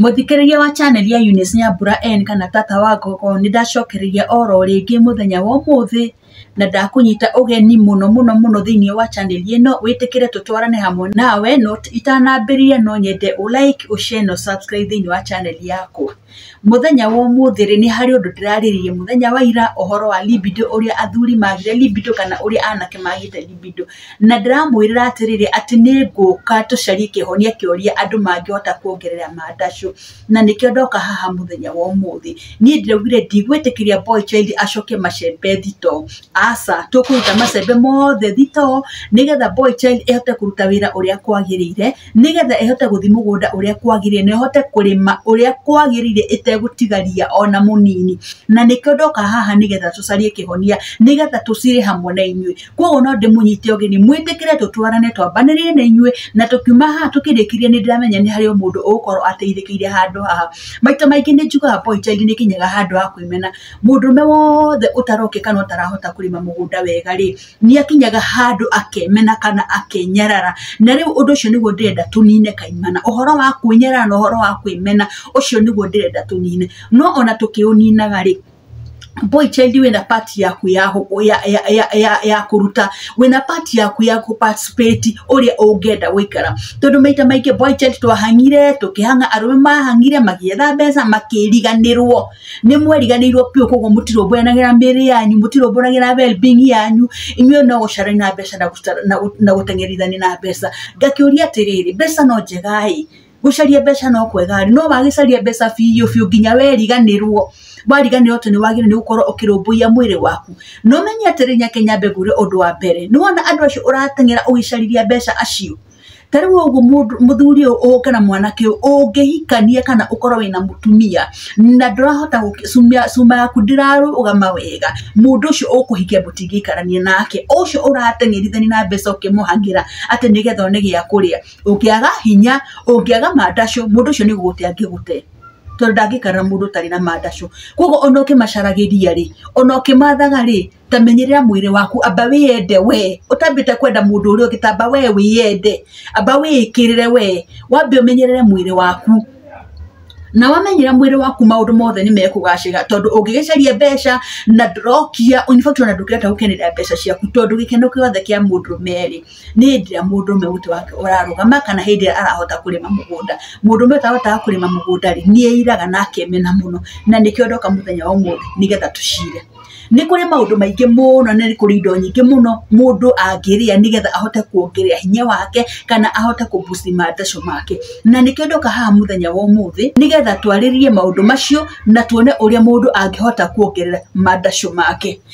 Mũthikĩrĩria wa chaneli ya Eunice Nyambura N kana Tata wa Gogo nĩ ndacokereria oro rĩngĩ mũthenya wa ũmũthĩ na ndakũnyita ũgeni mũno mũno mũno thĩinĩ wa chaneli ĩno wĩtĩkĩre tũtwarane hamwe nawe no itanambĩrĩria no nyende ũ like ũ share na ũ subscribe thĩinĩ wa chaneli yakwa. Mũthenya wa ũmũthĩ rĩ nĩ harĩ ũndũ ndĩrarĩrĩria mũthenya wa ira ũhoro wa libido ũrĩa athuri magire libido kana ũrĩa anake magĩte libido. Na ndĩramwĩrĩra atĩrĩrĩ, atĩ nĩ ngũka tũcarie kĩhonia kĩoria andũ mangĩhota kuongerera mandacũ. Na nĩkĩo ndoka haha mũthenya wa ũmũthĩ. Niĩ ndĩraugire ndigwĩtĩkĩria boy child acokie macembe thitoo. Aca, tũkũruta macembe mothe thitoo, nĩgetha boy child ĩhote kũruta wĩra ũrĩa kwagĩrĩire, nĩgetha ĩhote gũthi mũgũnda ũrĩa kwagĩrĩire, na ĩhote kũrĩma ũrĩa kwagĩrĩire ĩtegũtiga ria ona mũnini. Na nĩkĩo ndoka haha nĩgetha tũcarie kĩhonia, nĩgetha tũcire hamwe na inyuĩ. koguo no ndĩmũnyite ũgeni mwĩtĩkĩre tũtwarane twambanĩrie na inyuĩ na tũkiuma haha tũkĩrĩkĩrie nĩ ndĩramenya nĩ harĩ o mũndũ ũgũkorwo ateithĩkĩire handũ haha maita maingĩ nĩ njugaga boy child nĩ kinyaga handũ ha kwĩmena mũndũme wothe ũtaroke kana ũtarahota kũrĩma mũgũnda wega rĩ nĩ akinyaga handũ akemena kana akenyarara na rĩu ũndũ ũcio nĩguo ndĩrenda tũnine kaimana ũhoro wa kwĩnyarara na ũhoro wa kwĩmena ũcio nĩguo ndĩrenda tũnine no ona tũkĩũninaga rĩ boy child wĩna part yaku ya, ya, ya, ya, ya, ya kũruta wĩna part yaku ya kũparticipate ũrĩa ũngĩenda gũikara tondũ maita maingĩ boy child twahangire tũkĩhanga arũme mahangire magĩetha mbeca makĩriganĩrwo nĩ mweriganĩirwo biũ koguo mũtirũmbũyanagĩra mĩrĩ yanyu mũtirũmbũyanagĩra well-being yanyu inyuĩ no gũcarania na mbeca na gũteng'erithania na mbeca ngakĩũria atĩrĩrĩ mbeca no njega-ĩ gũcaria mbeca no kwega rĩ no wagĩcaria mbeca biũ biũ nginya weriganĩrwo wariganĩrwo atĩ nĩ wagĩrĩirwo nĩ gũkorwo ũkĩrũmbũiya mwĩrĩ waku no menye atĩrĩ nyakenya mbegũ rĩ ũndũ wa mbere nĩ wona andũ acio ũrateng'era ũgĩcariria mbeca acio ta rĩu ũguo mũndũ mũthuri ũyũ ũũ kana mwanake ũyũ ũngĩhikania kana ũkorwo wĩna mũtumia na ndũrahota gũkĩ- cuma- cuma yaku ndĩrarũgama wega mũndũ ũcio ũkũhikia mũtingĩikarania nake ũcio ũrateng'erithania na mbeca ũkĩmũhagĩra atĩ nĩgetha one gĩa kũrĩa ũngĩaga hinya ũngĩaga mandacũ mũndũ ũcio nĩ gũgũte angĩgũte tondũ ndangĩkara na mũndũ ũtarĩ na mandacũ koguo ona ũkĩmacaragĩria rĩ ona ũkĩmathaga rĩ ta menyerera mwĩrĩ waku amba wĩyende we ũtambĩte kwenda mũndũ ũrĩa ũngĩ tamba we wĩyende amba wĩĩkĩrĩre we wambe ũmenyerere mwĩrĩ waku na wamenyera mwĩrĩ waku maũndũ mothe nĩ mekũgacĩra tondũ ũngĩgĩcaria mbeca na ndũrokia in fact ona ndũkĩrenda gũkenera mbeca ciaku tondũ gĩkeno gĩothe kĩa mũndũ merĩ nĩ hĩndĩ ĩrĩa mũndũrũme ũtĩ wake ũrarũgama kana hĩndĩ ĩrĩa arahota kũrĩma mũgũnda. Mũndũrũme ũyũ ũtahotaga kũrĩma mũgũnda rĩ, nĩ airaga na akemena mũno na nĩkĩo ndoka mũthenya wa ũmũthĩ nĩ getha tũcire. Nĩ kũrĩ maũndũ maingĩ mũno na nĩ kũrĩ indo nyingĩ mũno mũndũ angĩrĩa nĩ getha ahote kuongerera hinya wake kana ahote kũ boost mathacũ make. Na nĩkĩo ndoka haha mũthenya wa ũmũthĩ nĩ getha twarĩrĩrie maũndũ macio na tuone ũrĩa mũndũ angĩhota kuongerera mathacũ make.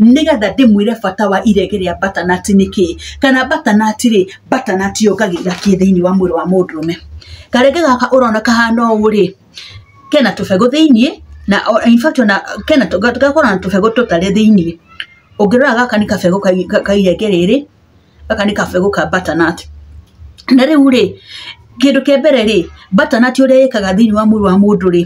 nĩgetha ndĩmwĩre bata wa irege rĩa batanati nĩ kĩĩ kana batanati rĩ batanati yongagĩrĩra kĩ thĩinĩ wa mwĩrĩ wa mũndũrũme karege gaka ũrona kahana ũũ rĩ kena tũbegũ thĩinĩ na o- in fact ona kena tũ- gakorwo na tũbegũ tũtarĩ thĩinĩ ũngĩrora gaka nĩ kabegũ kai- ka- ka irenge rĩrĩ gaka nĩ kabegũ ka butternut na rĩu rĩ kĩndũ kĩa mbere rĩ butternut ũrĩa ĩkaga thĩinĩ wa mwĩrĩ wa mũndũ rĩ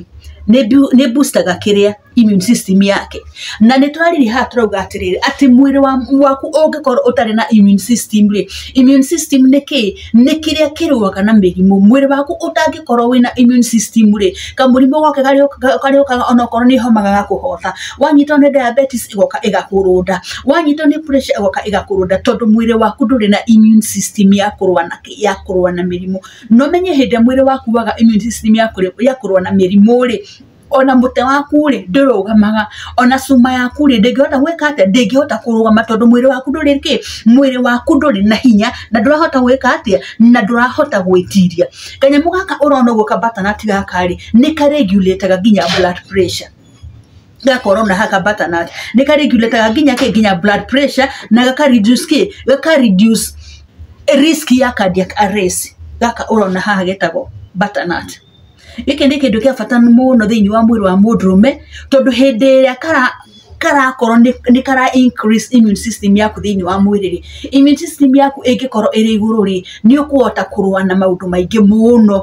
nĩ boostaga kĩrĩa immune system yake na nĩ twarĩrĩria haha tũrauga atĩrĩrĩ atĩ mwĩrĩ waku ũngĩkorwo ũtarĩ na immune system rĩ immune system nĩ kĩĩ nĩ kĩrĩa kĩrũaga na mĩrimũ mwĩrĩ waku ũtangĩkorwo wĩna immune system rĩ kamũrimũ gothe karĩa ũkaga onakorwo nĩ homa gagakũhota wanyitwo nĩ diabetes ĩgoka ĩgakũrũnda wanyitwo nĩ pressure ĩgoka ĩgakũrũnda tondũ mwĩrĩ waku ndũrĩ na immune system ya kũrũa na ya kũrũa na mĩrimũ na ũmenye hĩndĩ ĩrĩa mwĩrĩ waku waga immune system ya kũrũa na mĩrimũ rĩ ona mũtwe waku rĩ ndũrũgamaga ona cuma yaku rĩ ndĩngĩhota gwĩka atĩa ndĩngĩhota kũrũgama tondũ mwĩrĩ waku ndũrĩ kĩ mwĩrĩ waku ndũrĩ na hinya na ndũrahota gwĩka atĩa na ndũrahota gwĩtiria kanyamũ gaka ũrona ũguo ka butternut gaka rĩ nĩ ka regulate aga nginya blood pressure. ga corona haka bata na ne ka regulate ga ginya ke ginya blood pressure na ga ka reduce ke ga ka reduce risk ya cardiac arrest ga ka urona haha getagwo bata na gĩkĩ nĩ kĩndũ kĩa bata mũno thĩinĩ wa mwĩrĩ wa mũndũrũme tondũ hĩndĩ ĩrĩa kara karakorwo nĩ kara increase immune system yaku thĩinĩ wa mwĩrĩ rĩ immune system yaku ĩngĩkorwo ĩrĩ igũrũ rĩ nĩ ũkũhota kũrũa na maũndũ maingĩ mũno.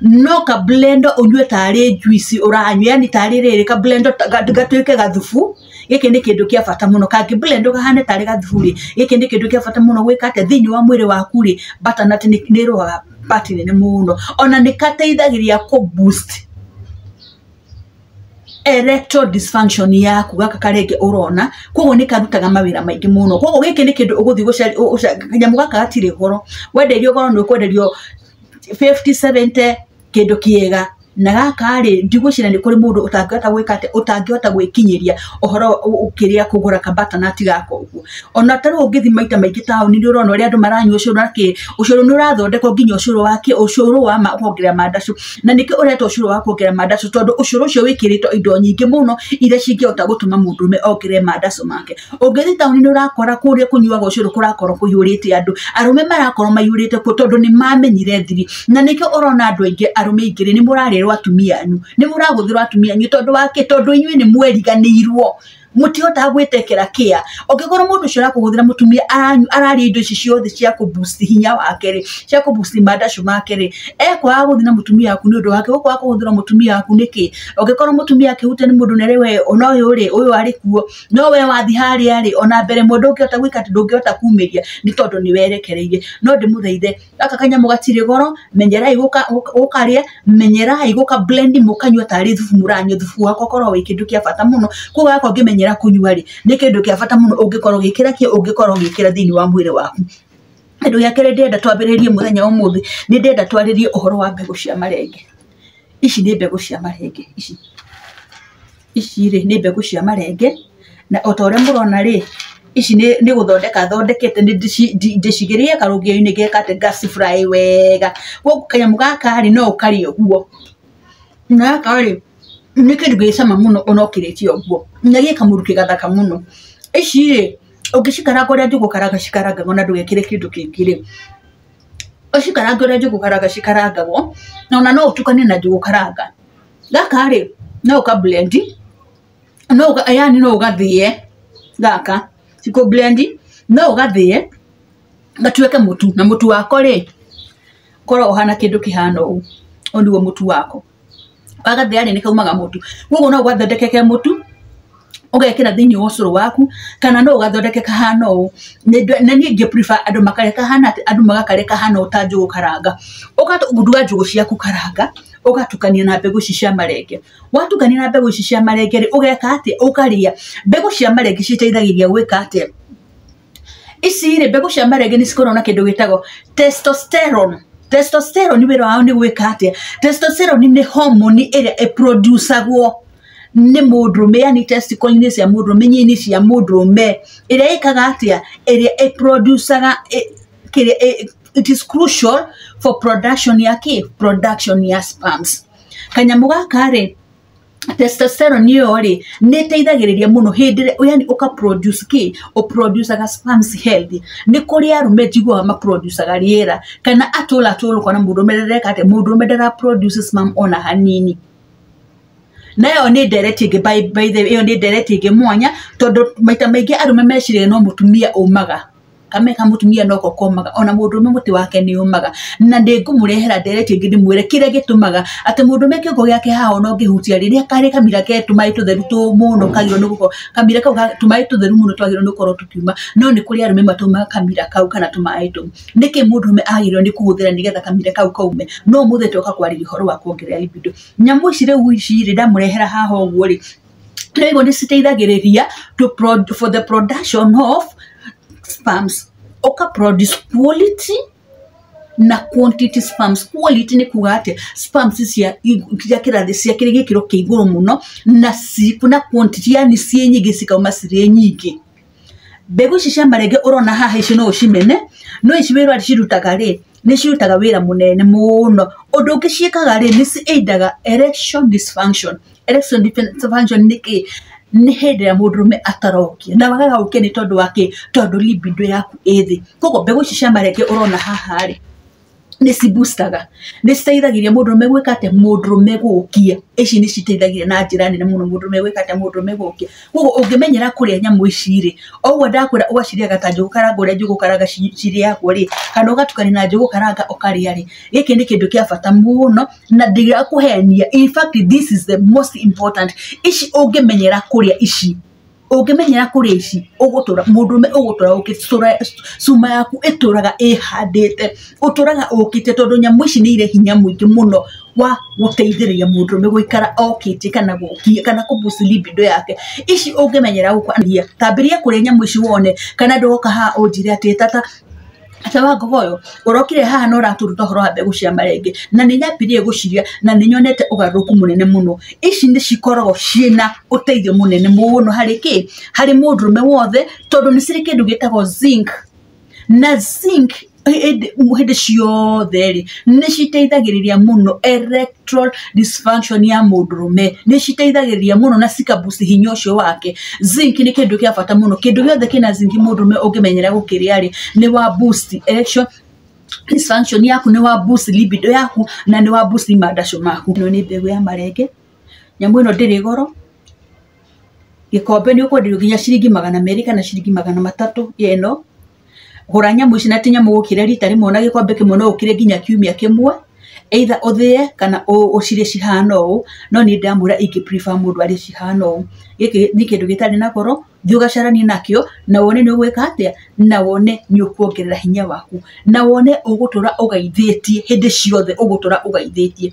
no ka blender ũnyue tarĩ juice ũranyua yani tarĩ rĩrĩ ka blender gatuĩke gathubu gĩkĩ nĩ kĩndũ kĩa bata mũno kangĩ blender kahane tarĩ gathubu rĩ gĩkĩ nĩ kĩndũ kĩa bata mũno gwĩka atĩ thĩinĩ wa mwĩrĩ waku rĩ butternut nĩ ĩrũaga part nene mũno ona nĩ gateithagĩrĩria kũ boost erectile dysfunction yaku gaka karenge ũrona koguo nĩ karutaga mawĩra maingĩ mũno koguo gĩkĩ nĩ kĩndũ ũgũthiĩ gũcaria kanyamũ gaka gatirĩ goro wenderio goro nĩ ũkwenderio 5070 kĩndũ kĩega na gaka rĩ ndigwĩciria nĩ kũrĩ mũndũ ũtangĩhota gwĩka atĩ ũtangĩhota gwĩkinyĩria ũhoro ũkĩrĩa kũgũra ka batanati gaka ũguo ona tarĩu ũngĩthi maita maingĩ taũni nĩ ũrona ũrĩa andũ maranyua ũcũrũ na kĩ ũcũrũ nĩ ũrathondekwo nginya ũcũrũ wa kĩ ũcũrũ wa ma kuongerera mandacũ na nĩkĩo ũretwo ũcũrũ wa kuongerera mandacũ tondũ ũcũrũ ũcio wĩkĩrĩtwo indo nyingĩ mũno iria cingĩhota gũtũma mũndũrũme ongerere mandacũ make. ũngĩthi taũni nĩ ũrakora kũrĩa kũnyuaga ũcũrũ kũrakorwo kũihũrĩte andũ arũme marakorwo maihũrĩte kuo tondũ nĩ mamenyire thiri na nĩkĩo ũrona andũ aingĩ arũme aingĩ nĩ mũrarĩrwo atumia anyu nĩ mũragũthĩrwo atumia anyu tondũ wa kĩ tondũ inyuĩ nĩ mweriganĩirwo mũtihotaga gwĩtekera kĩa ũngĩkorwo mũndũ ũcio arakũgũthĩra mũtumia aranyu ararĩa indo ici ciothe cia kũ boost hinya wake rĩ cia kũ boost mandacu make rĩ ekwaga gũthiĩ na mũtumia waku nĩ ũndũ wake ũkwaga kũgũthĩra mũtumia waku nĩkĩ ũngĩkorwo mũtumia akĩhutania nĩ mũndũ nerĩ we ona ũyũ rĩ ũyũ arĩ kuo no we wathi harĩa rĩ ona mbere mũndũ ũngĩhota gwĩka atĩ ndũngĩhota kumĩria nĩ tondũ nĩ werekereirie no ndĩmũthaithe gaka kanyamũ gatirĩ goro menyerai gũka- gũka- gũkarĩa menyerai gũka blend mũkanyua tarĩ thubu mũranyua thubu wakwa korwo wĩ kĩndũ kĩa bata mũno koguo gaka ũngĩmenyera kũnyua rĩ nĩ kĩndũ kĩa bata mũno ũngĩkorwo gĩkĩra kĩ ũngĩkorwo gĩkĩra thĩinĩ wa mwĩrĩ waku kĩndũ gĩa kerĩ ndĩrenda twambĩrĩrie mũthenya wa ũmũthĩ nĩ ndĩrenda twarĩrie ũhoro wa mbegũ cia marenge ici nĩ mbegũ cia marenge ici ici rĩ nĩ mbegũ cia marenge, na o ta ũrĩa mũrona rĩ, ici nĩ gũthondeka thondekete ndĩcigĩrĩire karũgĩo-inĩ ngeka atĩ nga ci fry wega. Kũguo kanyamũ gaka rĩ no ũkarĩe ũguo. Gaka rĩ nĩ kĩndũ gĩ cama mũno ona ũkĩrĩte ũguo, na gĩ kamũrukĩ kega gathaka mũno. Ici rĩ ũngĩcikaranga ũrĩa njũgũ karanga cikarangagwo na ndũgekĩre kĩndũ kĩngĩ rĩ, ũcikarange ũrĩa njũgũ karanga cikarangagwo, ona no ũtukanie na njũgũ karanga. gaka rĩ no ka blend no ũga- yani no ũgathĩe gaka cikũ blend no ũgathĩe gatuĩke mũtu na mũtu wako rĩ korwo ũhana kĩndũ kĩhana ũũ ũyũ nĩguo mũtu wako wagathĩa rĩ nĩkaumaga mũtu koguo no ũgathondeke ke mũtu ũgekĩra thĩinĩ wa ũcũrũ waku kana no ũgathondeke kahana ũũ na niĩ ngĩ prefer andũ makare kahana atĩ andũ magakare kahana ũũ ta njũgũ karanga ũkaruga njũgũ ciaku karanga ũgatukania na mbegũ ici cia marenge watukania na mbegũ ici cia marenge rĩ ũgeka atĩa ũkarĩa mbegũ cia marenge citeithagĩrĩria gwĩka atĩa ici rĩ mbegũ cia marenge nĩ cikoragwo na kĩndũ gĩtagwo testosterone testosterone wĩra wao nĩ gwĩka atĩa testosterone nĩ homoni ĩrĩa ĩproducagwo nĩ mũndũrũme yani testicle-inĩ cia mũndũrũme-inĩ cia mũndũrũme ĩrĩa ĩkaga atĩa ĩrĩa ĩproducaga ĩ- kĩrĩa ĩ- it is crucial for production ya kĩ production ya sperms kanyamũ gaka rĩ testosterone ĩyo rĩ nĩ ĩteithagĩrĩria mũno hĩndĩ ĩrĩa yani ũka produce kĩ ũ produce ga sperms healthy nĩ kũrĩ arũme njiguaga ma produce ga rĩera kana atũra atũra ũkona mũndũrũme ndareka atĩ mũndũrũme ndara produce sperm ona hanini na ĩyo nĩ ndereti ĩngĩ by by the way ĩyo nĩ ndereti ĩngĩ mwanya tondũ maita maingĩ arũme meciragia no mũtumia ũmaga. kame ka mũtumia noko komaga ona mũndũrũme mũtĩ wake nĩ ũmaga na ndĩngũmũrehera nderetie ngĩ ndĩmwĩre kĩrĩa gĩtũmaga atĩ mũndũrũme kĩongo gĩake haha ona ũngĩhutia rĩrĩa karĩ kamira ke tũmaĩ tũtheru tũ mũno kagĩrĩirwo nĩ gũkorwo kamira kau ga tũmaĩ tũtheru mũno twagĩrĩirwo nĩ gũkorwo tũkiuma no nĩ kũrĩ arũme matũmaga kamira kau kana tũmaĩ tũu nĩkĩ mũndũrũme agĩrĩirwo nĩ kũhũthĩra nĩgetha kamira kau kaume no ũmũthĩ toka kwarĩria ũhoro wa kuongerera libido nyamũ ici rĩu ici rĩ ndamũrehera haha ũguo rĩ na hivyo nĩ citeithagĩrĩria to prod, for the production of sperms ũka produce quality na quantity sperms quality nĩ kuga atĩ sperms cia cia kĩrathi cia kĩrĩ gĩkĩro kĩa igũrũ mũno na ci na quantity yani ciĩ nyingĩ cikauma cirĩ nyingĩ mbegũ ici cia marenge ũrona haha ici no ũcimene no ici wĩra ũrĩa cirutaga rĩ nĩ cirutaga wĩra mũnene mũno ũndũ ũngĩ ciĩkaga rĩ nĩ ci aid aga erection dysfunction erection dysfunction nĩ kĩĩ nĩ hĩndĩ ĩrĩa mũndũrũme atarokia na wagaga gũkĩa nĩ tondũ wa kĩĩ tondũ libido yaku ĩ thĩ koguo mbegũ ici cia marenge ũrona haha rĩ. nĩ ci booster ga nĩ citeithagĩrĩria mũndũrũme gwĩka atĩa mũndũrũme gũkia ici nĩ citeithagĩrĩria na njĩra nene mũno mũndũrũme gwĩka atĩa mũndũrũme gũkia kogwo ũngĩmenyera kũrĩa nyamũ ici rĩ o ũguo ndakwĩra ũgacirĩaga ta njũgũ karanga ũrĩa njũgũ karanga ci cirĩagwo rĩ kana ũgatukania na njũgũ karanga ũkarĩa rĩ gĩkĩ nĩ kĩndũ kĩa bata mũno na ndĩrakũhenia in fact this is the most important ici ũngĩmenyera kũrĩa ici. ũngĩmenyera kũrĩa ici ũgũtũra mũndũrũme ũgũtũra ũkĩte cũra cuma yaku ĩtũraga ĩhandĩte, ũtũraga ũkĩte tondũ nyamũ ici nĩ irĩ hinya mũingĩ mũno wa gũteithĩrĩria mũndũrũme gũikara okĩte kana gũkiĩ kana kũ boost libido yake, ici ũngĩmenyera gũkũ ambĩrĩria kũrĩa nyamũ ici wone kana ndũgoka haha ũnjĩre atĩ tata. Ate wa ngogo ũyũ ũrokire haha na ũratũruta ũhoro wa mbegũ cia marenge na nĩ nyambirie gũciria na nĩ nyonete ũgarũrũku mũnene mũno ici nĩ cikoragwo ciĩna ũteithio mũnene mũno harĩ kĩ harĩ mũndũrũme wothe tondũ nĩ cirĩ kĩndũ gĩtagwo zinc na zinc hĩndĩ ciothe rĩ nĩ citeithagĩrĩria mũno erect erectile dysfunction ya mũndũrũme nĩ citeithagĩrĩria mũno na cikabuci hinya ũcio wake zinc nĩ kĩndũ kĩa bata mũno kĩndũ gĩothe kĩna zinc mũndũrũme ũngĩmenyera gũkĩrĩa rĩ nĩ wa boost erection dysfunction yaku nĩ wa boost libido yaku na nĩ wa boost mandacũ maku ĩno nĩ mbegũ ya marenge nyamũ ĩno ndĩrĩ goro gĩkombe nĩ ũkwenderio nginya ciringi magana merĩ kana ciringi magana matatũ ya ĩno gũra nyamũ ici na ti nyamũ gũkĩrĩa rita rĩmwe na gĩkombe kĩmwe no ũkĩrĩe nginya kiumia kĩmwe either ũthĩe kana ũ- ũcirĩe cihana ũũ no niĩ ndamwĩra ingĩ prefer mũndũ arĩe cihana ũũ gĩkĩ nĩ kĩndũ gĩtarĩ na goro thiĩ ũgacaranie nakĩo na wone nĩ ũgwĩka atĩa na wone nĩ ũkuongerera hinya waku na wone ũgũtũra ũgaithĩtie hĩndĩ ciothe ũgũtũra ũgaithĩtie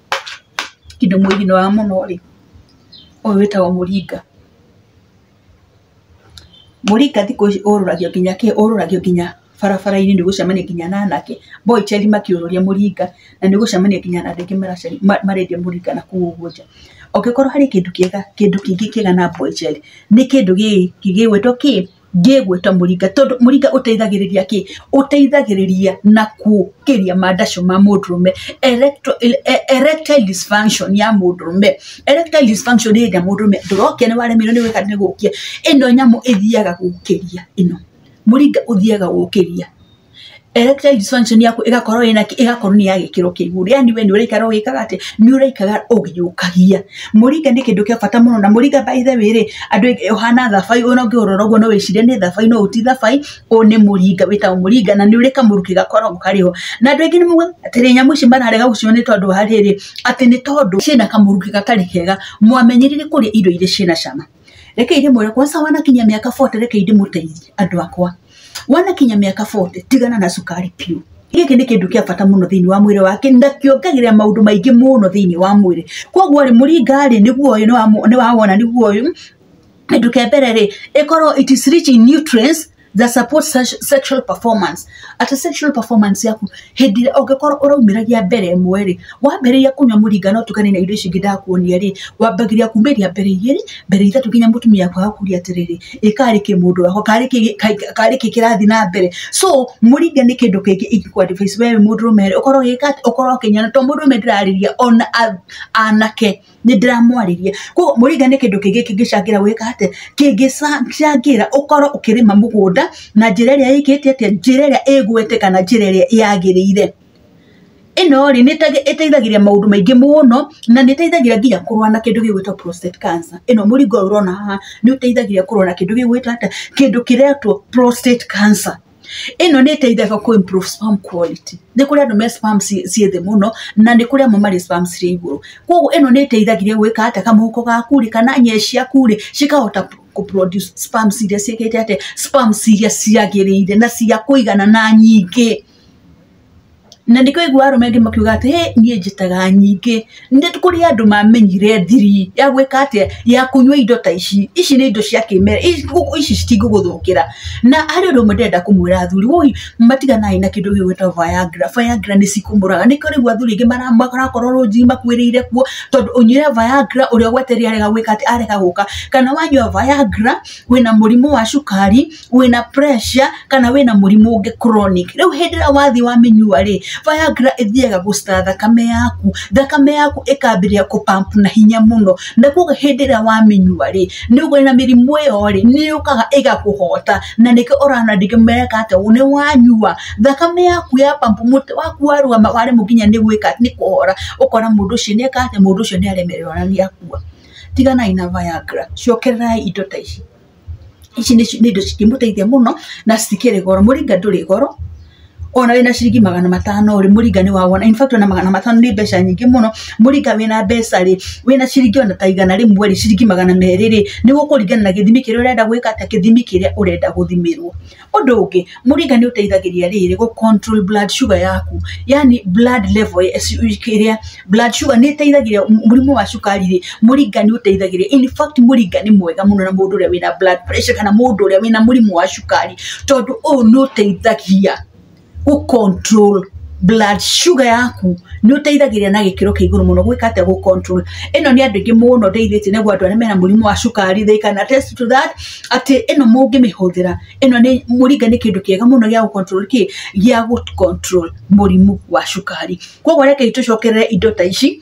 kĩndũ mũthinoa mũno rĩ, ũyũ wĩtagwo mũringa. Mũringa thikũ ici ũrũragio nginya kĩ? Ũrũragio nginya barabara-inĩ nĩ ũgũcemania nginya na anake mboiceri makĩũrũria mũringa na nĩ ũgũcemania nginya na andũ aingĩ marendia mũringa na kũu ũguo nja. Ũngĩkorwo harĩ kĩndũ kĩega kĩndũ kĩngĩ kĩega na mboiceri nĩ kĩndũ gĩkĩ gĩgwĩtwo kĩ? ngĩgwĩta mũringa tondũ mũringa ũteithagĩrĩria kĩ? Ũteithagĩrĩria na kũkĩria mandacu ma mũndũrũme, erectile e erectile dysfunction ya mũndũrũme, erectile dysfunction nĩ hĩndĩ ĩrĩa mũndũrũme ndũrokĩa nĩ waremirwo nĩ gwĩka nĩ gũkĩa, ĩno nyamũ ĩthiaga gũkĩria ĩno, mũringa ũthiaga gũkĩria. electric dysfunction yaku ĩgakorwo ĩna kĩ- ĩgakorwo nĩ ya gĩkĩro kĩa igũrũ yani we nĩ ũraikara ũgĩkaga atĩ nĩ ũraikaga ũgĩũkagia mũringa nĩ kĩndũ kĩa bata mũno na mũringa by the way rĩ andũ aingĩ- ũhana thabai ona ũngĩũrora ũguo no wĩcirie nĩ thabai no ũti thabai ũyũ nĩ mũringa wĩtagwo mũringa na nĩ ũrĩ kamũrukĩ gakoragwo karĩ ho na andũ aingĩ nĩ moigaga atĩrĩ nyamũ ici mararega gũciona nĩ tondũ wa rĩrĩ atĩ nĩ tondũ ciĩna kamũrukĩ gatarĩ kega mwamenyerire kũrĩa irio iria ciĩna cama reke ndĩmwĩre kwaca wanakinya mĩaka 40 reke ndĩmũteithie andũ akwa wanakinya mĩaka 40 tigana na cukari biũ gĩkĩ nĩ kĩndũ kĩa bata mũno thĩinĩ wa mwĩrĩ wake na kĩongagĩrĩra maũndũ maingĩ mũno thĩinĩ wa mwĩrĩ koguo rĩ mũringarĩ nĩguo ũyũ nĩwawona nĩguo ũyũ kĩndũ kĩa mbere rĩ ĩkorwo it is rich in nutrients that support sex- sexual performance atĩ sexual performance yaku hĩndĩ ĩrĩa ũngĩkorwo ũraumĩragia mbere ĩmwe rĩ wambĩrĩria kũnyua mũringa no tukane na indo ici ingĩ ndakuonia rĩ wambagĩria kumĩria mbere igĩrĩ mbere ithatũ nginya mũtumia kwaga kuria atĩrĩrĩ ĩ karĩ kĩ mũndũ wako karĩ kĩ ka- karĩ kĩ kĩrathiĩ na mbere so mũringa nĩ kĩndũ kĩngĩ ingĩkwa advice wewe mũndũ rũme ũkorwo ũgĩka atĩ? ũkorwo ũkĩnyua na to mũndũ rũme ndĩrarĩria ona a- anake nĩ ndĩramwarĩria koguo mũrĩnga nĩ kĩndũ kĩngĩ kĩngĩcangĩra gwĩka atĩ kĩngĩcangĩra ũkorwo ũkĩrĩma mũgũnda na njĩra ĩrĩa ĩkĩte atĩa njĩra ĩrĩa ĩgwete kana njĩra ĩrĩa yagĩrĩire ĩno rĩ nĩ ĩteithagĩria maũndũ maingĩ mũno na nĩ ĩteithagĩrĩria nginya kũrũa na kĩndũ gĩgwĩtwo prostate cancer ĩno mũrĩnga ũyũ ũrona haha nĩ ũteithagĩrĩria kũrũa na kĩndũ gĩgwĩtwo atĩa kĩndũ kĩretwo prostate cancer. ĩno nĩ ĩteithagia kũ improve sperm quality nĩ kũrĩ andũ me sperm ciĩ thĩ mũno na nĩ kũrĩ amwe marĩ sperm cirĩ igũrũ koguo ĩno nĩ ĩteithagĩrĩria gwĩka atĩ kamũhuko gaku rĩ kana nyee ciaku rĩ cikahota kũ produce sperm iria ciĩkĩte atĩa sperm iria ciagĩrĩire na cia kũigana na nyingĩ. na nĩkĩo ũiguaga arũme aingĩ makiuga atĩ "Hĩ, niĩ njĩtaga nyingĩ, nĩ kũrĩ andũ mamenyire thiri ya gwĩka atĩa, ya kũnyua indo ta ici, ici nĩ indo cia kĩmerera, ici citingĩgũthũkĩra, na harĩ ũndũ ũmwe ndĩrenda kũmwĩra athuri, woi matiganai na kĩndũ gĩkĩ gĩtagwo viagra, viagra nĩ cikũmũraga, nĩkĩo rĩu athuri aingĩ marakorwo rũnjini makuĩrĩire kuo, tondũ ũnyuĩre viagra ũrĩa ũgweteire arega gwĩka atĩ, arega gũka, kana wanyua viagra wĩna mũrimũ wa cukari. wĩna pressure kana wĩna mũrimũ ũngĩ chronic rĩu hĩndĩ ĩrĩa wathiĩ wamĩnyua rĩ Viagra ĩthiaga gũcita thakame yaku thakame yaku ĩkambĩrĩria kũ pump na hinya mũno na koguo hĩndĩ ĩrĩa wamĩnyua rĩ nĩ ũgũrĩ na mĩrimũ ĩyo rĩ nĩ yũkaga ĩgakũhota na nĩkĩo ũrona andũ aingĩ mereka atĩ nĩ wanyua thakame yaku ya pump mũtwe waku warũgama waremwo nginya nĩ gwĩka nĩ kũhora ũkona mũndũ ũcio nĩ eka atĩa mũndũ ũcio nĩ aremererwo na nĩ akua tiganai na Viagra cokererai indo ta ici. ici nĩ indo cingĩmũteithia mũno na citikĩrĩ goro, mũringa ndũrĩ goro ona wĩna ciringi magana matano rĩ mũringa nĩ wa wona, in fact ona magana matano nĩ mbeca nyingĩ mũno, mũringa wĩna mbeca rĩ, wĩna ciringi ona ta igana rĩmwe rĩ, ciringi magana merĩ rĩ, nĩ gũkũringana na gĩthimi kĩrĩa ũrenda gwĩka atĩa, gĩthimi kĩrĩa ũrenda gũthimĩrwo. Ũndũ ũngĩ, mũringa nĩ ũteithagĩria rĩrĩ gũ control blood sugar yaku, yani blood level ĩrĩa, blood sugar nĩ ĩteithagĩrĩria mũrimũ wa cukari rĩ, mũringa nĩ ũteithagĩrĩria. In fact mũringa nĩ mwega mũno na mũndũ ũrĩa wĩna blood pressure kana mũndũ ũrĩa wĩna mũrimũ wa cukari, tondũ ũyũ nĩ ũteithagia. gũ control blood sugar yaku nĩ ũteithagĩrĩria na gĩkĩro kĩa igũrũ mũno gwĩka atĩa gũ control ĩno nĩ andũ aingĩ mũno ndeithĩtie naguo andũ arĩa mena mũrimũ wa cukari they can attest to that atĩ ĩno mũngĩmĩhũthĩra ĩno nĩ mũringa nĩ kĩndũ kĩega mũno gĩa gũ control kĩ gĩa gũ control mũrimũ wa cukari koguo rekei tũcokerere indo ta ici.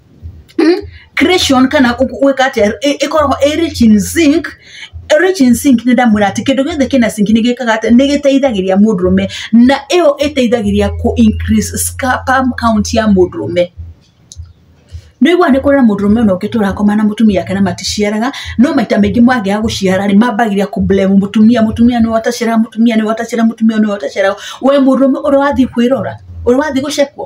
hmm? creation kana gwĩkate ĩkoragwo ĩ rich in zinc rich in zinc nĩ ndamwĩra atĩ kĩndũ gĩothe kĩna zinc nĩ gĩkaga atĩ nĩ gĩteithagĩria mũndũrũme na ĩyo ĩteithagĩria kũ increase sperm count ya mũndũrũme nĩgua nĩ kũrĩ na mũndũrũme ũno ũngĩ tũrakoma na mũtumia yake na maticiaraga no maita maingĩ mwangĩa gũciara rĩ mambagĩria kũblemu mũtumia mũtumia nĩ watacĩra mũtumia nĩ watacĩra mũtumia nĩ watacĩra we mũndũrũme ũrĩa wathiĩ kwĩrora ũrĩa wathiĩ gũcekwo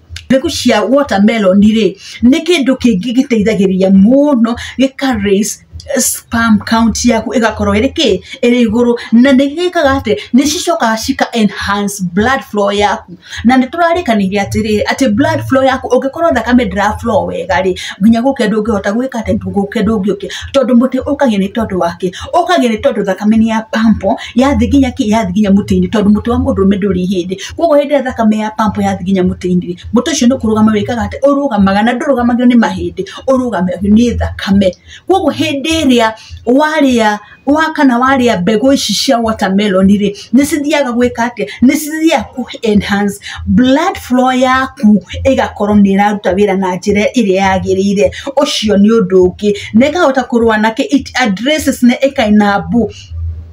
mbegũ cia watermelon rĩ nĩ kĩndũ kĩngĩ gĩteithagĩrĩria mũno gĩka raise sperm count yaku ĩgakorwo ĩrĩ kĩ? ĩrĩ igũrũ, na nĩ gĩkaga atĩ nĩ cicokaga cika enhance blood flow yaku, na nĩ tũrarĩkanĩire atĩrĩrĩ atĩ blood flow yaku ũngĩkorwo thakame ndĩra flow wega rĩ nginya gũkĩa ndũngĩhota gwĩka atĩ? gũkĩa ndũngĩũkĩa, tondũ mũtĩ ũkagĩa nĩ tondũ wa kĩ? ũkagĩa nĩ tondũ thakame nĩ ya pump. yathi nginya ki yathi nginya muti-ini tondu muti wa mundu rume nduri hindi koguo hindi ria thakame ya pampo yathi nginya muti-ini muti ucio ni kurugama wikaga ati urugamaga na ndurugamagio ni mahindi urugamagio ni thakame koguo hindi iria waria wa kana waria mbegu ici cia watermelon ri ni cithiaga gwika atia ni cithiaga ku enhance blood flow yaku igakorwo ni iraruta wira na njira iria yagirire ucio ni undu ungi na ikahota kurwa na ki it addresses na ikainabu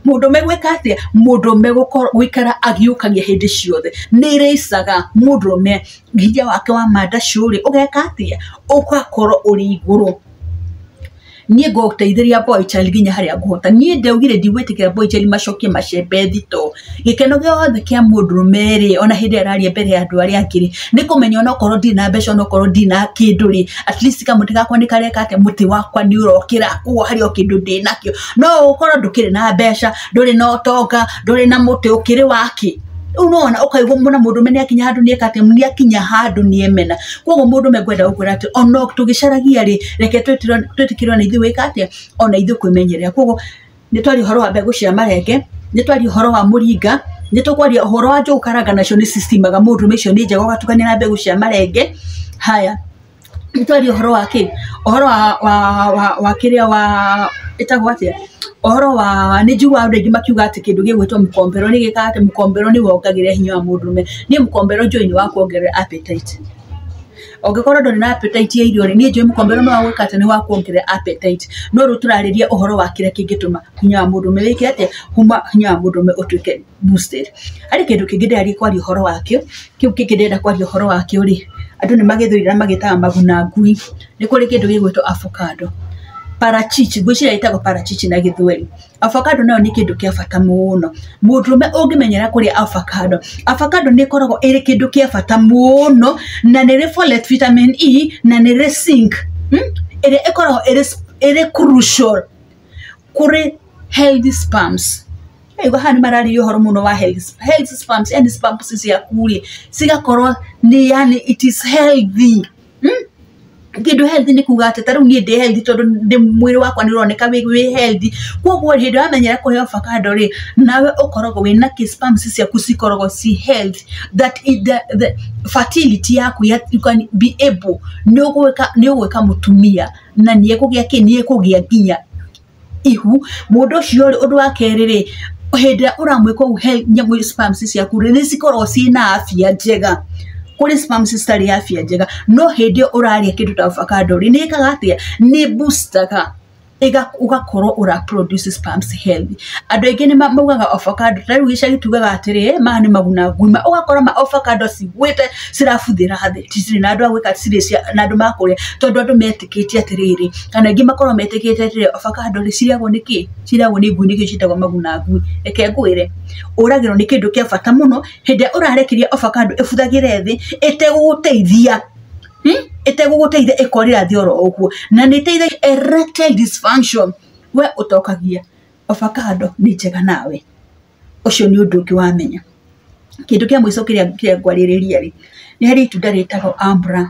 mũndũme gwĩka atĩa mũndũme gũkorwo gũikara agĩũkagia hĩndĩ ciothe nĩ ĩrĩcaga mũndũme hinya wake wa manda cũrĩ ũgeka atĩa ũgakorwo ũrĩ igũrũ niĩ ngũteithĩria boy child nginya harĩa ngũhota niĩ ndaugire ndigwĩtĩkĩria boy child macokie macembe thitoo. gĩkeno gĩothe kĩa mũndũrũme rĩ, ona hĩndĩ ĩrĩa araria mbere ya andũ arĩa angĩ rĩ, nĩ kũmenya onokorwo ndirĩ na mbeca onokorwo ndirĩ na kĩndũ rĩ, at least kamũtĩ gakwa nĩ kareka atĩa, mũtĩ wakwa nĩ ũrokĩra, koguo harĩ o kĩndũ ndĩnakĩo. No ũkorwo ndũkĩrĩ na mbeca, ndũrĩ na ũtonga, ndũrĩ na mũtĩ, ũkĩrĩ wa kĩ? Rĩu nĩ wona ũkaigua ona mũndũrũme nĩ akinya handũ nĩ eka atĩa, nĩ akinya handũ nĩ emena. Koguo mũndũrũme ngwenda gũkwĩra atĩ ona tũgĩcaragia rĩ, reke twĩtĩkĩrwo ona ithuĩ gwĩka atĩa, ona ithuĩ kwĩmenyerera. Koguo... nĩ twaria ũhoro wa mbegũ cia marenge nĩ twaria ũhoro wa mũringa nĩ tũkwaria ũhoro wa njũgũ karanga nacio nĩ cicimaga mũndũ nĩ icio nĩ njega ũgatukania na mbegũ cia marenge haya nĩ twaria ũhoro wa kĩ ũhoro wa wa wa wa kĩrĩa wa ĩtagwo atĩa ũhoro wa nĩ njiguaga andũ aingĩ makiuga atĩ kĩndũ gĩgwĩtwo mũkombero nĩ gĩkaga atĩ mũkombero nĩ wongagĩrĩra hinya wa mũndũrũme niĩ mũkombero njũĩ nĩ wa kuongerera appetite Ũngĩkorwo ndũrĩ na appetite ya irio rĩ, niĩ njũĩ mũkombe ũrĩa mwega gwĩka atĩ nĩ wa kuongerera appetite. No rĩu tũrarĩrĩria ũhoro wa kĩrĩa kĩngĩtũma hinya wa mũndũrũme wĩke atĩa, kuma hinya wa mũndũrũme ũtuĩke boosted. Harĩ kĩndũ kĩngĩ ndĩrathiĩ kwaria ũhoro wakĩo, kĩu kĩngĩ ndĩrenda kwaria ũhoro wakĩo rĩ, andũ nĩ magĩthũire na magĩtaga maguna ngui. Nĩ kũrĩ kĩndũ gĩgwĩtwo avocado. Parachichi, ngwĩciria ĩtagwo parachichi na gĩthweri. Avocado nayo nĩ kĩndũ kĩa bata mũno. Mũndũrũme ũngĩmenyera kũrĩa avocado, avocado nĩ ĩkoragwo ĩrĩ kĩndũ kĩa bata mũno, na nĩ ĩrĩ folate, vitamin E, na nĩ ĩrĩ zinc, ĩrĩa ĩkoragwo ĩrĩ ĩrĩ crucial kũrĩ healthy sperms. Ndĩraigua haha nĩ mararĩrĩria ũhoro mũno wa healthy sperms. Healthy sperms, yani sperms ciaku rĩ, cigakorwo nĩ yani it is healthy. hmm? kĩndũ healthy nĩ kuga atĩ ta rĩu niĩ ndĩ healthy tondũ ndĩ mwĩrĩ wakwa nĩ ũroneka wĩ wĩ healthy koguo hĩndĩ ĩrĩa wamenyera kũrĩa avocado rĩ nawe ũkoragwo wĩ na kĩ sperms ciaku cikoragwo ci health that is the, the fertility yaku ya, you can be able nĩ ũgwĩka nĩ ũgwĩka mũtumia na nĩ ekũgĩa kĩ nĩ ekũgĩa nginya ihu mũndũ ũcio rĩ ũndũ wa kerĩ rĩ hĩndĩ ĩrĩa ũramwĩka ũguo he nyamũ ĩ sperms ciaku rĩ nĩ cikoragwo ciĩna afya njega kũrĩ sperms citarĩ afya njega no hĩndĩ ĩyo ũrarĩa kĩndũ ta avocado rĩ nĩ ĩkaga atĩa nĩ ĩ booster ga ĩga- ũgakorwo ũra produce sperms healthy andũ aingĩ nĩ ma- maugaga avocado ta rĩu gĩcagi tugaga atĩrĩ maya nĩ maguna ngui ma ũgakora ma avocado cigwĩte cirabuthĩra thĩ citirĩ na andũ a gwĩka citirĩ cia na andũ makũrĩa tondũ andũ meti- metĩkĩtie atĩrĩrĩ, kana aingĩ makoragwo metĩkĩtie atĩrĩrĩ, ovacado rĩ, cirĩagwo nĩ kĩ? Cirĩagwo nĩ ngui nĩkĩo ciĩtagwo maguna ngui. Reke ngwĩre, ũragĩrwo nĩ kĩndũ kĩa bata mũno, hĩndĩ ĩrĩa ũrarekereria ovacado ĩbuthagĩre thĩ, ĩtegũgũteithia, ĩtegũgũteithia ĩkorĩra thĩ oro ũguo. Na nĩ ĩteithagia erectile dysfunction, we ũtokagia. Ovacado nĩ njega nawe. ũcio nĩ ũndũ ũngĩ wamenya kĩndũ kĩa mũico kĩrĩa kĩrĩa ngwarĩrĩria rĩ nĩ harĩ itunda rĩtagwo ambra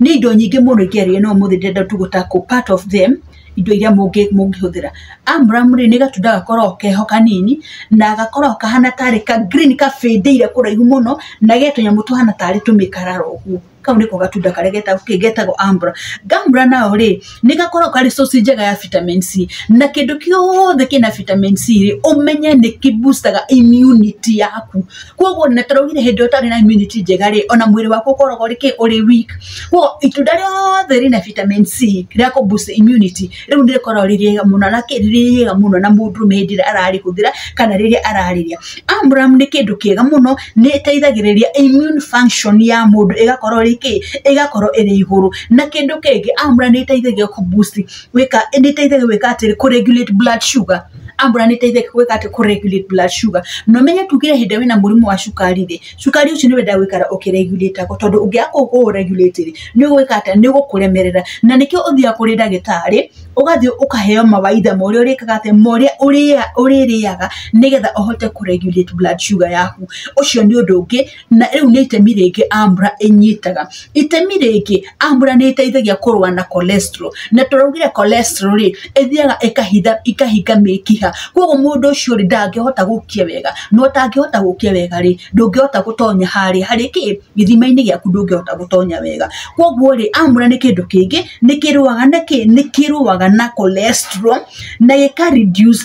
nĩ indo nyingĩ mũno ingĩarĩrĩria no ũmũthĩ ndĩrenda tu gũ tackle part of them indo iria mũngĩ mũngĩhũthĩra ambra rĩ nĩ gatunda gakoragwo keho kanini na gakoragwo kahana tarĩ ka green gabĩndĩire kũraihu mũno na ge tũnyamũ tũhana tarĩ tũmĩkarara ũguo. kau nĩko gatunda karĩa getagwo kĩ getagwo ambra gambra nao rĩ nĩ gakoragwo karĩ source njega ya vitamin c na kĩndũ kĩothe kĩna vitamin c rĩ ũmenye nĩ kĩ boostaga immunity yaku koguo na tũraugire hĩndĩ ĩrĩa ũtarĩ na immunity njega rĩ ona mwĩrĩ waku ũkoragwo ũrĩ kĩ ũrĩ weak koguo itunda rĩothe rĩna vitamin c rĩa kũ boost immunity rĩu nĩ rĩkoragwo rĩ rĩega mũno na kĩ- rĩrĩ rĩega mũno na mũndũrũme hĩndĩ ĩrĩa ararĩhũthĩra kana rĩrĩa ararĩrĩa amuramu nĩ kĩndũ kĩega mũno nĩ ĩteithagĩrĩria immune function ya mũndũ ĩgakorwo rĩ kĩ ĩgakorwo ĩrĩ igũrũ na kĩndũ kĩngĩ amura nĩ ĩteithagia kũ boost gwĩka nĩ ĩteithagia gwĩka atĩrĩ kũ regulate blood sugar ambura nĩ ĩteithagia gwĩka atĩ kũ regulate blood sugar na ũmenye tuge hĩndĩ ĩrĩa wĩna mũrimũ wa cukari rĩ cukari ũcio nĩ wendaga gũikara ũkĩreguratagwo tondũ ũngĩaga kũũreguratĩ rĩ nĩ ũgwĩka atĩa? Nĩ ũgũkũremerera na nĩkĩo ũthiaga kũrĩ ndagĩtarĩ ũgathiĩ ũkaheo mawaitha ma ũrĩa ũrĩkaga atĩa? Ma ũrĩa ũrĩrĩaga nĩgetha ũhote kũregurĩti blood sugar yaku. Ũcio nĩ ũndũ ũngĩ na rĩu nĩ itemi rĩngĩ AMRA ĩnyitaga. itemi rĩngĩ ambura nĩ ĩteithagia kũrũa na cholesterol na tũraugire cholesterol rĩ ĩthiaga ĩkahitha ĩkahinga mĩkiha koguo mũndũ ũcio rĩ ndangĩhota gũkia wega na ũtangĩhota gũkia wega rĩ ndũngĩhota gũtonya harĩa harĩ kĩ gĩthimainĩ gĩaku ndũngĩhota gũtonya wega koguo rĩ ambura nĩ kĩndũ kĩngĩ nĩkĩrũaga na kĩ nĩkĩrũaga na cholesterol na gĩka reduce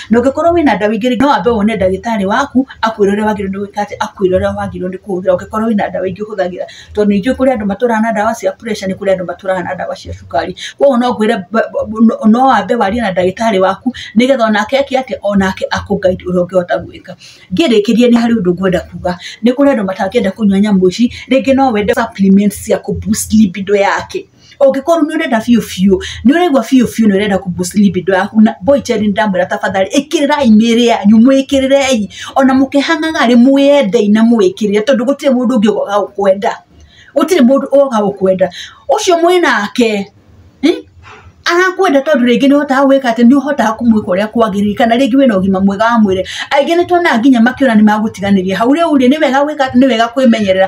na ũngĩkorwo wĩna ndawa ingĩ no wambe wone ndagĩtarĩ waku akwĩre ũrĩa wagĩrĩirwo nĩ gwĩka atĩ akwĩre ũrĩa wagĩrĩirwo nĩ kũhũthĩra ũngĩkorwo wĩna ndawa ingĩ ũhũthagĩra tondũ nĩ njũĩ kũrĩ andũ matũraga na ndawa cia pressure nĩ kũrĩ andũ matũraga na ndawa cia cukari koguo no ngwĩre ba- ba- no wambe warie na ndagĩtarĩ waku nĩgetha onake eke atĩa onake akũ guide ũrĩa ũngĩhota gwĩka ngĩrĩkĩrie nĩ harĩ ũndũ ngwenda kuga nĩ kũrĩ andũ matangĩenda kũnyua nyamũ ici rĩngĩ no wende supplements cia kũ boost libido yake ũngĩkorwo nĩ ũrenda biũ biũ nĩ ũraigua biũ biũ nĩ ũrenda kuboost libido yaku na boy child nĩ ndamwĩra tafadhali ĩkĩrĩrai mĩĩrĩ yanyu mwĩkĩrĩrei ona mũkĩhang'aga rĩ mwĩendei na mwĩkĩrĩre tondũ gũtirĩ mũndũ ũngĩ ũgoka gũkwenda gũtirĩ mũndũ ũgoka gũkwenda ũcio mwĩ nake hmm? arakwenda tondũ rĩngĩ nĩ ũhotaga gwĩka atĩ nĩ ũhotaga kũmwĩka ũrĩa kwagĩrĩire kana rĩngĩ wĩna ũgima mwega wa mwĩrĩ aingĩ nĩ tuonaga nginya makĩona nĩ magũtiganĩria hau rĩu rĩ nĩ wega gwĩka atĩ nĩ wega kwĩmenyerera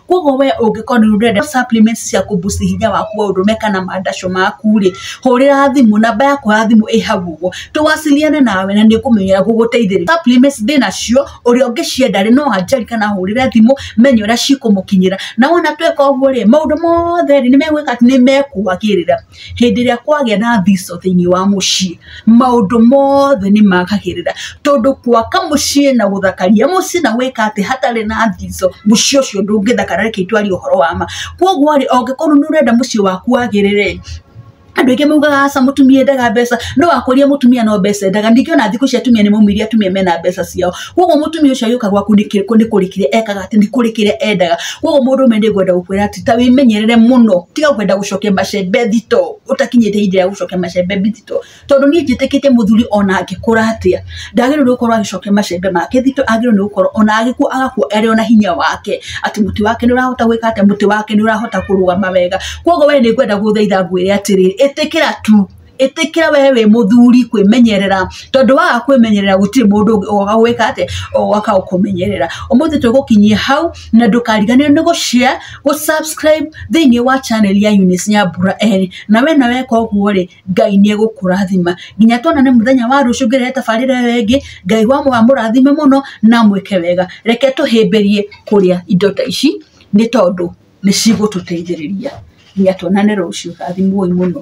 koguo we ũngĩkorwo nĩ ũrenda supplements cia kũbuci hinya waku wa ũrũme kana mandacũ maku rĩ hũrĩra thimũ namba yaku ya thimũ ĩ hau ũguo tũwasiliane nawe na nĩngũmenyera gũgũteithĩrĩria supplements ndĩnacio ũrĩa ũngĩcienda rĩ no anjari kana ahũrĩre thimũ menye ũrĩa cikũmũkinyĩra na wona tweka ũguo rĩ maũndũ mothe rĩ nĩmegwĩka atĩ nĩmekũagĩrĩra hĩndĩ ĩrĩa kwagĩa na thico thĩinĩ wa mũciĩ maũndũ mothe nĩ magagĩrĩra tondũ gwaka mũciĩ na gũthakaria mũciĩ na gwĩka atĩ hatarĩ na thico mũciĩ ũcio ndũngĩthakara reke itwarie ũhoro wa ma koguo rĩ ũngĩkorwo nĩ ũrenda mũciĩ waku wagĩrĩre andũ aingĩ maugaga aca mũtumia endaga mbeca no wakũria mũtumia no mbeca endaga ningĩ ona thikũ ici atumia nĩ maumĩrire atumia mena mbeca ciao koguo mũtumia ũcio agĩũka gwaku ndikĩ- kũ- nĩ kũrĩkire ekaga atĩ nĩ kũrĩkire endaga koguo mũndũ ũmwe nĩ ngwenda gũkwĩra atĩ ta wĩmenyerere mũno tiga kwenda gũcokia macembe thito ũtakinyĩte ihinda rĩa gũcokia macembe thito tondũ niĩ njĩtĩkĩtie mũthuri ona angĩkũra atĩa ndagĩrĩirwo nĩ gũkorwo agĩcokia macembe make thito agĩrĩirwo nĩ gũkorwo ona agĩkua agakua arĩ ona hinya wake atĩ mũtĩ wake nĩ ũrahota gwĩka atĩa mũtĩ wake nĩ ũrahota kũrũgama wega koguo we nĩ ngwenda gũthaitha ngwĩre atĩrĩrĩ ĩtĩkĩra tu ĩtĩkĩra we wĩ mũthuri kwĩmenyerera tondũ waga kwĩmenyerera gũtirĩ mũndũ ũngĩ ũgoka gwĩka atĩa ũgoka gũkũmenyerera ũmũthĩ tũgũkinyia hau na ndũkariganĩrwo nĩ gũshare gũ subscribe thĩinĩ wa channel ya Eunice Nyambura Eri na wena weka ũguo rĩ Ngai nĩ egũkũrathima nginya tuonane mũthenya wa rũciũ ngĩrehe tabarĩra ĩyo ĩngĩ Ngai wa mũga amũrathime mũno na amwĩke wega reke tũhĩmbĩrie kũrĩa indo ta ici nĩ tondũ nĩ cigũtũteithĩrĩria nginya tuonane rũciũ. Rathimwoi mũno.